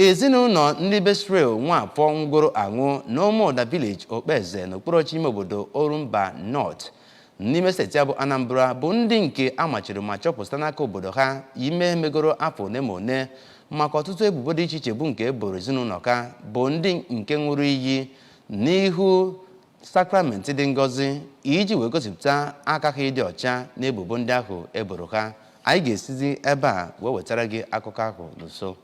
ezinụlọ ndị be Israel nwafọ nwụgoro anwụ n'ụmụụda village okpeze n'okpuru ọchịchị ime obodo orumba north n'ime steeti a bụ anambra bụ ndị nke a machiri ma chụpụ site n'aka obodo ha ime megoro afọ ole ma ole maka ọtụtụ ebubo dị iche iche bụ nke e boro ezinụlọ ka bụ ndị nke ṅụrụ iyi n'ihu sakramenti dị ngọzi iji wee gosipụta aka ha ịdị ọcha n'ebubo ndị ahụ e boro ha anyị ga-esizi ebe a wee wetara gị akụkọ ahụ n'ụsọ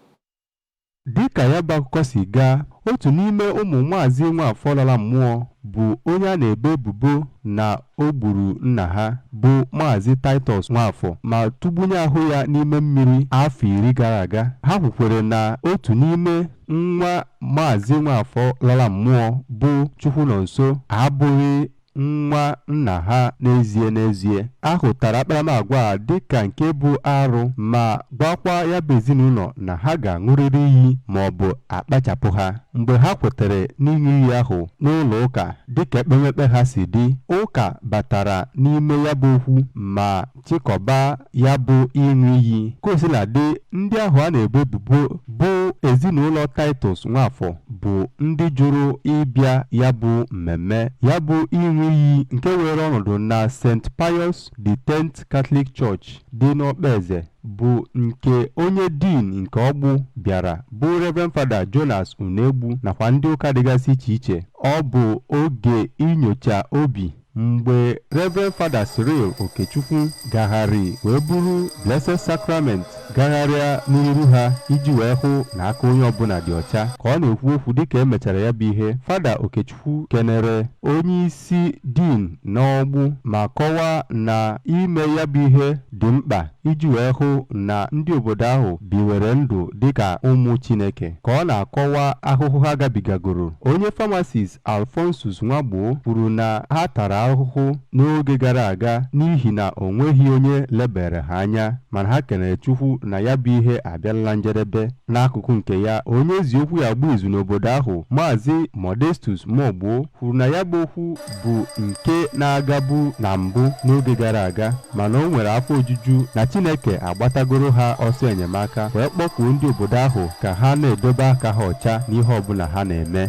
dịka ya bụ akụkọ si gaa otu n'ime ụmụ Maazị Nwafọ lara mmụọ bụ onye a na-ebo ebubo na o gburu nna ha bụ maazị Titus Nwafọ ma tụgbunye ahụ ya n'ime mmiri afọ iri gara aga ha kwukwere na otu n'ime Nwa Maazị Nwafọ lara mmụọ bụ Chukwunonso abụghị nwa nna ha n'ezie n'ezie. A hụtara akparamagwa a dịka nke bụ arụ ma gwakwa ya bụ ezinụlọ na ha ga-aṅụrịrị iyi maọbụ a kpachapụ ha. Mgbe ha kwetere n'ịṅụ iyi ahụ n'ụlọụka dịka ekpemekpe ha si dị, ụka batara n'ime ya bụ okwu ma chịkọba ya bụ ịṅụ iyi ka o sila dị ndị ahụ a na-ebo ebubo bụ ezinụlọ Titus Nwafọ bụ ndị jụrụ ịbịa ya bụ mmemme ya bụ ịṅụ iyi nke were ọnọdụ na St. Pius the Tenth Catholic Church dị n'Okpeze bụ nke onye Dean nke Ọgbụ bịara bụ Reverend Fada Jonas Unegbu nakwa ndị ụka dịgasị iche iche ọ bụ oge inyocha obi mgbe Reverend Fada Cyril Okechukwu gagharị wee buru Blessed Sacrament gagharịa n'iru ha iji wee hụ na aka onye ọbụla dị ọcha ka ọ na-ekwu okwu dịka e mechara ya bụ ihe Fada Okechukwu kenere onye isi Dean n'Ọgbụ ma kọwaa na ime ya bụ ihe dị mkpa iji wee hụ na ndị obodo ahụ biwere ndụ dịka ụmụ Chineke ka ọ na-akọwa ahụhụ ha gabigagoro onye pharmacist Alphonsus Nwagbo kwuru na ha tara ahụhụ n'oge gara aga n'ihi na o nweghị onye lebere ha anya mana ha kenere Chukwu na ya bụ ihe abịala na njedebe. N'akụkụ nke ya, onye e ji okwu ya agba izu n'obodo ahụ, Maazị Modestus Mogbo kwuru na ya bụ okwu bụ nke na-agabu na mbụ n'oge gara aga mana o nwere afọ ojuju na Chineke agbatagoro ha ọsọ enyemaka wee kpọkuo ndị obodo ahụ ka ha na-edobe aka ha ọcha n'ihe ọbụla ha na-eme.